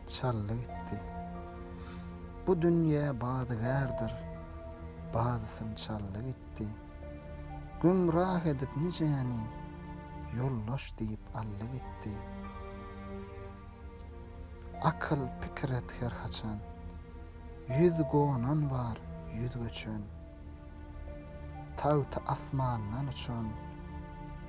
Çaldy gitdi. Bu dünýe badygärdir, Badysyn çaldy gitdi. Gümrah edip nijäni, Ýoldaş diýip aldy gitdi. Akyl pikir et her haçan, Ýüz gonan bar, ýüz göçen. Tagty asmandan uçan.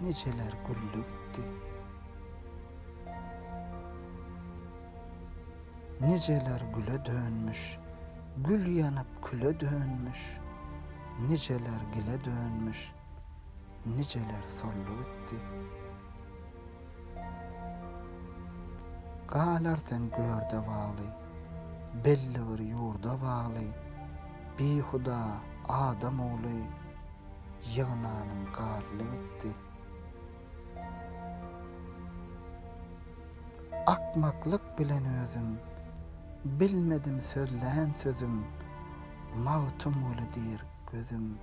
Niçeler güldi gitdi. Niceler güle dönmüş, Gül ýanyp küle dönmüş, Niceler gile dönmüş, Niceler soldy gitdi. Galar sen görde bagly, Belli bir ýurda bagly, Bihuda adam ogly, Ýygnanym garly gitdi. Akmaklyk bilen özüm, Bilmedim sözlän sözüm, Magtymguly diýr gözüm,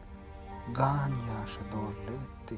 Gan ýaşy doldy gitdi.